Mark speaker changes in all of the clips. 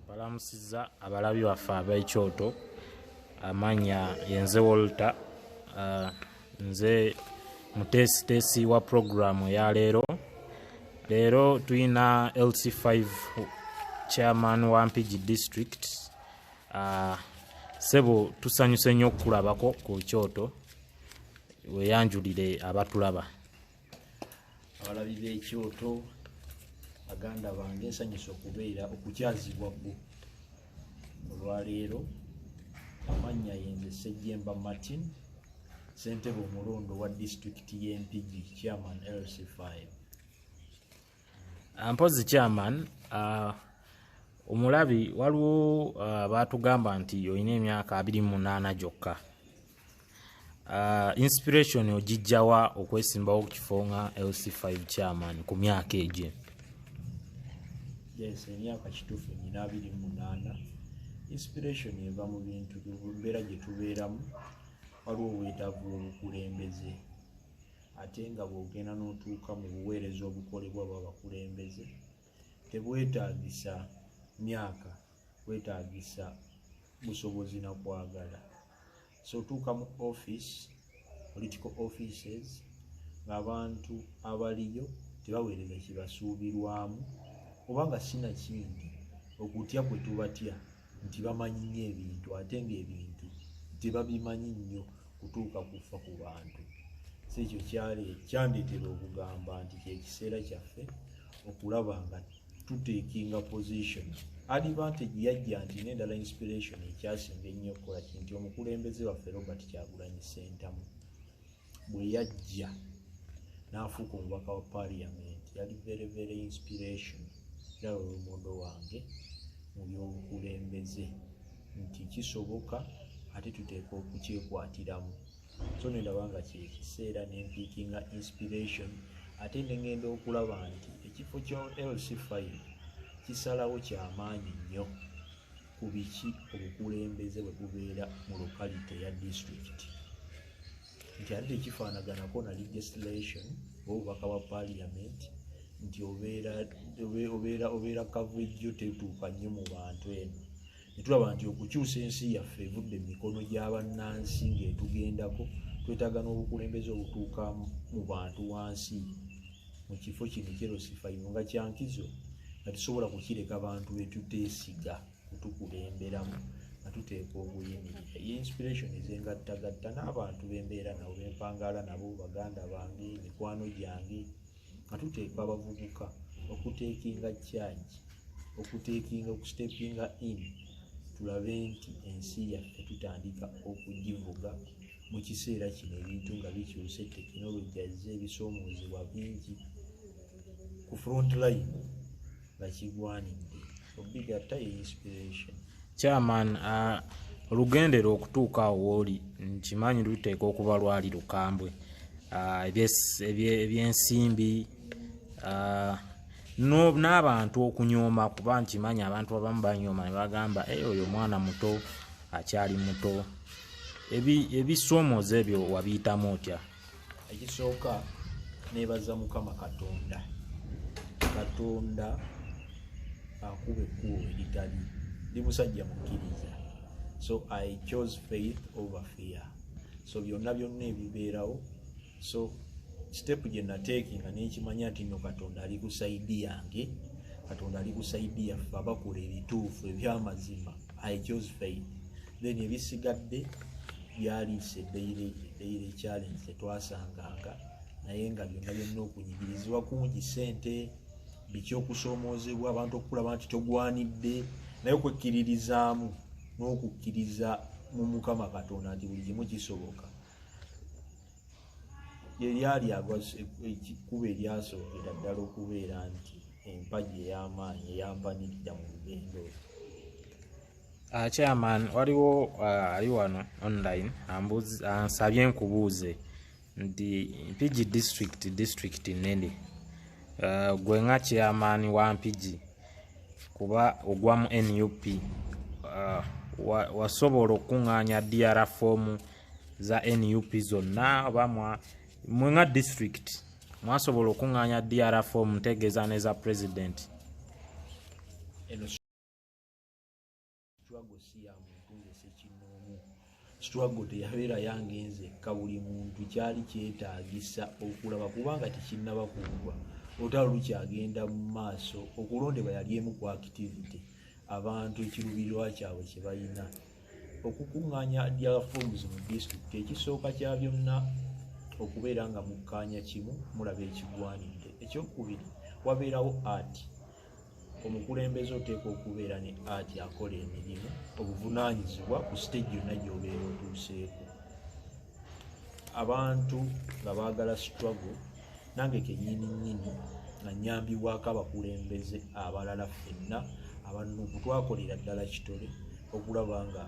Speaker 1: balamusiza abalabi baffe ab'ekyoto amanya yenze walter uh, nze muteesiteesi wa puroguramu eya leero leero tulina lc5 chairman wa mpigi district uh, sebo tusanyuse nnyo okukulabako ku kyoto weyanjulire abatulaba
Speaker 2: abalabi b'ekyoto baganda bange nsanyusa okubeera okukyazibwa gwo olwaleero amannya yenze sejjemba martin ssentebe omulonde wa disitulikiti y'empigi chairman lc5
Speaker 1: ah, mpozi chairman uh, omulabi waliwo uh, baatugamba nti olina emyaka abiri munaana gyokka Uh, inspiration ogijjawa okwesimbawo ku kifo nga lc5 chairman ku myaka egyo yes
Speaker 2: emyaka kituufu nyina abiri munaana inspiration eva mu bintu mbeera gye tubeeramu waliwo obwetaavu obukulembeze ate nga bwogenda n'otuuka mu buweereza obukolebwa bwa bakulembeze tebwetaagisa myaka wetagisa busobozi na kwagala so tuuka mu office political offices ngaabantu abaliyo tebaweereza kibasuubirwamu oba nga sinakindi okutya kwe tubatya nti bamanyi nyo ebintu ate ngaebintu tebabimanyi nnyo kutuuka kufa ku bantu si ekyo kyali kyandeetera okugamba nti kyekiseera kyaffe okulaba nga tutekinga position advantage yajja nti nendala inspiration ekyasinga ennyo okukola kinti omukulembeze waffe robert kyagulanyi sentamu bwe yajja n'afuuka omubaka wa parliament yali very very inspiration era lwolumondo wange mu by'obukulembeze nti kisoboka ate tuteeka okukyekwatiramu so nendaba nga kyekiseera nempiikinga inspiration ate nengenda okulaba nti ekifo kya lc file kisalawo kyamaanyi nnyo ku biki obukulembeze bwe bubeera mu lokalite ya district nti ate tekifaanaganako na legislation oba obubaka bwa parliament nti obeera obeera obeera coverage yo tetuuka nnyo mu bantu eno netulaba nti okukyusa ensi yaffe evudde mu mikono gy'abannansi ng'etugendako twetaaga n'obukulembeze obutuuka mu bantu wansi mu kifo kino kyerosifayiro nga kyankizo nga tusobola kukireka bantu betuteesiga kutukulemberamu nga tuteeka obuyimirira ye inspiration ezengattagatta n'abantu bembeera nabo bempangaala nabo baganda bange mikwano gyange nga tuteeka abavubuka okuteekinga kyaki okuteekinga okustepinga in tulabe nti ensi yaffe tutandika okugivuga mu kiseera kino ebintu nga bikyuse tekinologi azze ebisoomoozebwa bingi ku front line bakigwanidde obigatta ye inspiration chairman uh,
Speaker 1: olugendera okutuuka awo wooli nkimanyi luteeka okuba lwali lukambwe uh, ebyensimbi uh, n'abantu okunyooma kuba nkimanyi abantu abamu banyooma ne bagamba e oyo omwana muto akyali muto ebisoomoza ebyo wabiyitamu otya ekisooka
Speaker 2: nebaza mukama katonda katonda akuba ekkubo eritali ndi musajja mukkiriza so i chose faith over fear so byonna byonna ebibeerawo so sitepu gye nateeki nga nekimanya nti no katonda ali ku saidi yange katonda ali ku saidi yaffe abakola ebituufu ebyamazima i chose faith then ebisigadde byaliisa eddeyire eddeyire challenge tetwasanganga naye nga byonna byonna okunyigirizibwa kungi sente biki okusoomoozebwa abantu okukulaba nti togwanidde naye okwekkiririzaamu n'okukkiriza mu mukama katonda nti buli kimu kisoboka yeryali ekkuba eryasookera ddala okubeera nti empagi ey'amaanyi eyampanirira mu lugendo Uh,
Speaker 1: chairman waliwo uh, ali uh, wano online ansabye uh, nkubuuze nti mpigi district district nene uh, gwe nga chairman wa mpigi kuba ogwa mu nup uh, wasobola wa okukuŋŋaanya dr foomu za nup zonna oba mwe nga district mwasobola okukuŋŋaanya dr foomu ntegeeza ne za president
Speaker 2: struggle si ya muntu nze sekinnoomu struggle teyabeera yange nze ka buli muntu kyali kyetaagisa okulaba kubanga tekinnaba kugwa olutalo lukyagenda mu maaso okulondebwa yali emu ku activity abantu ekirubirirwa kyabwe kye balina okukuŋŋaanya diaforms mu disitulikiti ekisooka kya byonna okubeera nga mukkaanya kimu mulaba ekigwanidde ekyokubiri wabeerawo art omukulembeze oteekwa okubeera ne ati akola emirimu obuvunaanyizibwa ku siteegi yonna gyobeera otuuseeko abantu nga baagala struggle nange kenyini nyini nga nyambibwako abakulembeze abalala fenna abanuku twakolera ddala kitole okulaba nga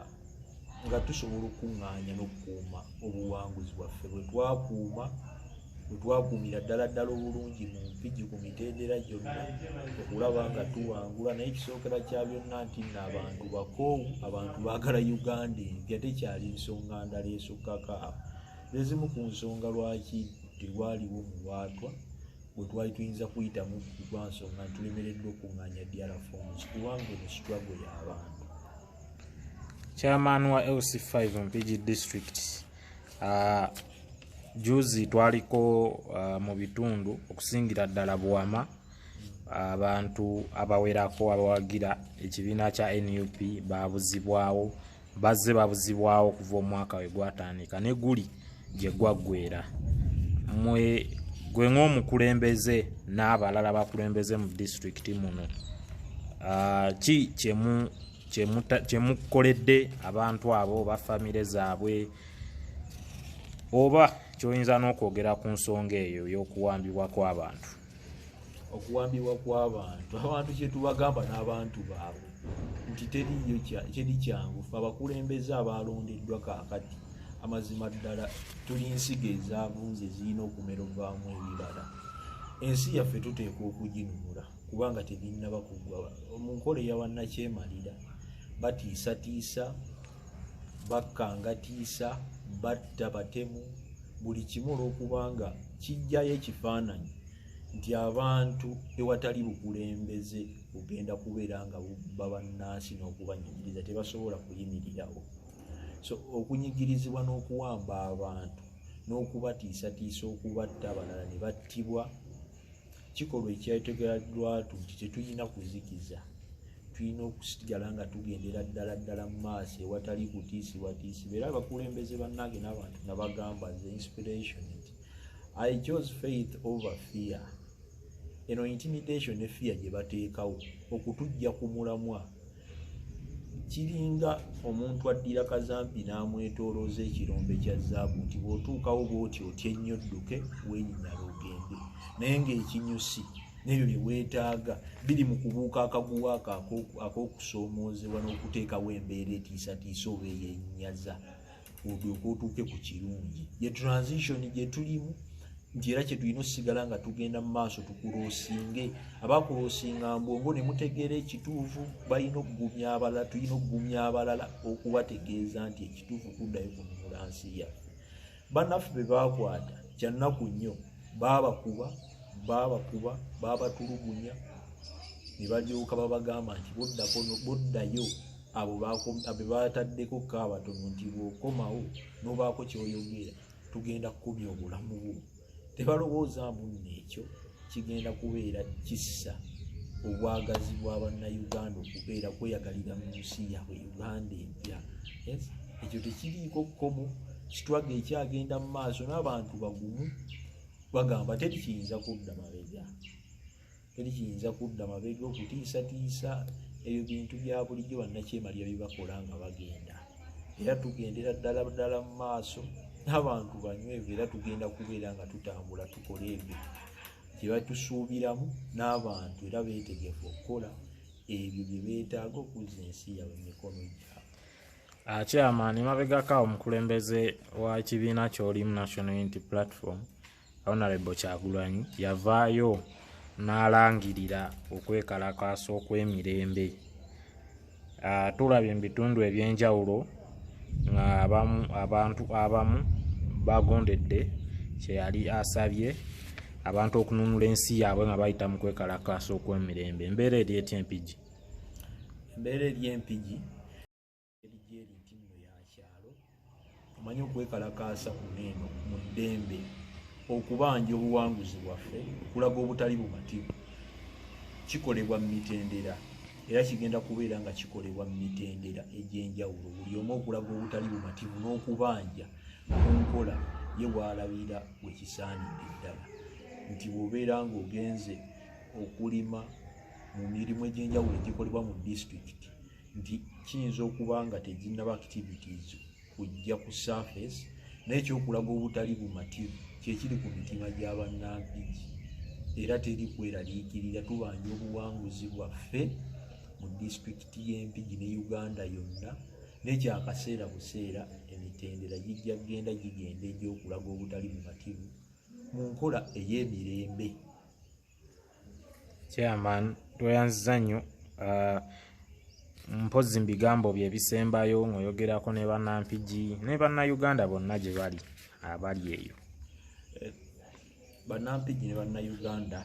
Speaker 2: nga tusobola okukuŋŋaanya n'okukuuma obuwanguzi bwaffe bwe twakuuma wetwakuumira ddala ddala obulungi mu mpigi ku mitendera gyonna okulaba nga tuwangula naye ekisookera kya byonna nti nno abantu bakoowu abantu baagala uganda empya tekyali nsonga ndala esukkako awo zezimu ku nsonga lwaki tewaliwo muwaatwa bwe twali tuyinza kuyitamu lwa nsonga ntulemereddwa okunganya dra forms kubanga eno situlago y'abantu
Speaker 1: chairman wa lc5 mpigi district Uh, juzi twaliko uh, mu bitundu okusingira ddala buwama abantu abawerako abawagira ekibiina kya nup babuzibwawo bazze babuzibwawo okuva omwaka we gwatandika ne guli gye gwaggwera mwe gwe ng'omukulembeze n'abalala bakulembeze mu disitulikiti muno uh, ki kyemu kyemukoledde abantu abo oba famire zaabwe oba kyoyinza n'okwogera ku nsonga eyo y'okuwambibwa kw'abantu
Speaker 2: okuwambibwa kw'abantu abantu kyetubagamba n'abantu baabwe nti teriyo teri kyangu fe abakulembeze abaalondeddwa kaakati amazima ddala tuli nsigo ezavunze zirina okumerobwamu ebibala ensi yaffe tuteekwa okuginunula kubanga tebinnaba kuggwa mu nkola eya wannakyemalira batiisatiisa bakkangatiisa batta batemu buli kimu olwokubanga kijjayo ekifaananyi nti abantu ewatali bukulembeze bugenda kubeera nga bubba bannansi n'okubanyigiriza tebasobola kuyimirirawo so okunyigirizibwa n'okuwamba abantu n'okubatiisatiisa okubatta abalala ne battibwa kikolwa ekyategeradwatu nti tetulina kuzikiza tulina okusigala nga tugendera ddala ddala mu maaso ewatali kutiisibwatiisi beera abakulembeze bannange n'abantu nabagamba the inspiration nti i chose faith over fear eno intimidation ne fear gye bateekawo okutujja ku mulamwa kiringa omuntu addira kazampi n'amwetolooza ekirombe kya zaabu nti bw'otuukawo bwoti otya ennyo dduke wenyinyala ogende naye ng'ekinyusi n'ebyo bye weetaaga biri mu kubuuka akaguwa ako ak'okusoomoozebwa n'okuteekawo embeera etiisatiisa oba eyenyaza olyoke otuuke ku kirungi ye transition gye tulimu nti era kyetulina osigala nga tugenda mu maaso tukulosinge abakulosinga mbwongo ne mutegeera ekituufu balina okugumya abalala tulina okugumya abalala okubategeeza nti ekituufu kuddayo kununula nsi yaffe banaffe be baakwata kyannaku nnyo baabakuba baabakuba baabatulugunya ne balyoka babagamba nti boddako boddayo abo bebaataddeko ko abatono nti bwokomawo nobaako kyoyogera tugenda kukumya obulamu bwo tebalowooza mbu neekyo kigenda kubeera kissa obwagazi bwa bannayuganda okubeera kweyagalira mu nsi yabwe uganda empya ekyo tekiriiko kkomo kitwaga ekyagenda mu maaso n'abantu bagumu bagamba teri kiyinza kudda mabega teri kiyinza kudda mabega okutiisatiisa ebyo bintu bya bulijjo bannakyemalira bibakola nga bagenda era tugendera ddala ddala mu maaso n'abantu banywevu era tugenda kubeera nga tutambula tukola ebyo kye batusuubiramu n'abantu era beetegefu okukola ebyo bye beetaaga okuzza ensi yabwe mu mikono gyabwe akyamaani ah,
Speaker 1: mabegako omukulembeze wa kibiina kyolimu national unity platform Honorable Kyagulanyi yavaayo n'alangirira okwekalakaasa okw'emirembe ah, tulabye mu bitundu eby'enjawulo nga abantu abamu bagondedde kyeyali asabye abantu okununula ensi yaabwe nga bayita mu kwekalakaasa okw'emirembe embeera
Speaker 2: eri
Speaker 1: etya empigi embeera eri empigi Eri nti nno ya
Speaker 2: kyalo omanyi okwekalakaasa kuno eno mu ddembe okubanja obuwanguzi bwaffe okulaga obutali bumativu kikolebwa mu mitendera era kigenda kubeera nga kikolebwa mu mitendera egy'enjawulo buli omu okulaga obutali bumativu n'okubanja ku nkola ye waalabira we kisaanidde ddala nti bw'obeera ng'ogenze okulima mu mirimu egy'enjawulo egikolebwa mu disitulikiti nti kiyinza okuba nga teginaba activities kujja ku surface naye kyokulaga obutali bumativu kyekiri ku mitima gya bannanfiji era teri kweraliikirira tubanja obuwanguzi bwaffe mu disitulikiti y'empigi ne uganda yonna nekyakaseera buseera emitendera gijja kugenda gigenda egyokulaga obutali bumativu mu nkola ey'emirembe
Speaker 1: chairman tweyanziza nnyo uh, mpozi mbigambo byebisembayo ngaoyogerako ne banampigi ne bannayuganda bonna gye bali abali eyo eh,
Speaker 2: banampigi ne bannayuganda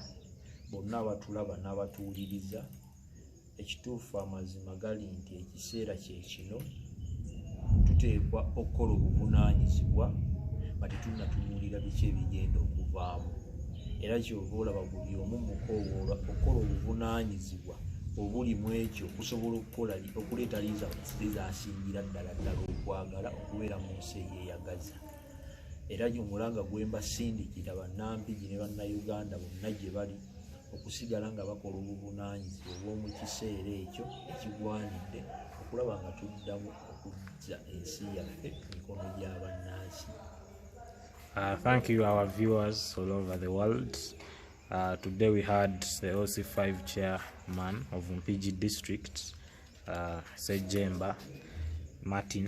Speaker 2: bonna abatulaba n'abatuwuliriza ekituufu amazima gali nti ekiseera kyekino tuteekwa okukola obuvunanyizibwa nga tetunatunuulira biki ebigenda okuvaamu era kyova olaba buli omu mukowoola okukola obuvunanyizibwa obuli mu ekyo okusobola okukola okuleeta lizasingira ddala ddala okwagala okubeera mu nsi eyeyagaza era gyomulanga gwembasindikira banampigi ne bannayuganda bonna gye bali okusigala nga bakola obuvunanyizibwa obw'omu kiseera ekyo ekigwanidde okulaba nga tuddamu okujja ensi yaffe mikono gy'abannansi
Speaker 1: Uh, thank you our viewers all over the world uh, today we had the oc5 chairman of mpg district uh, sejemba martin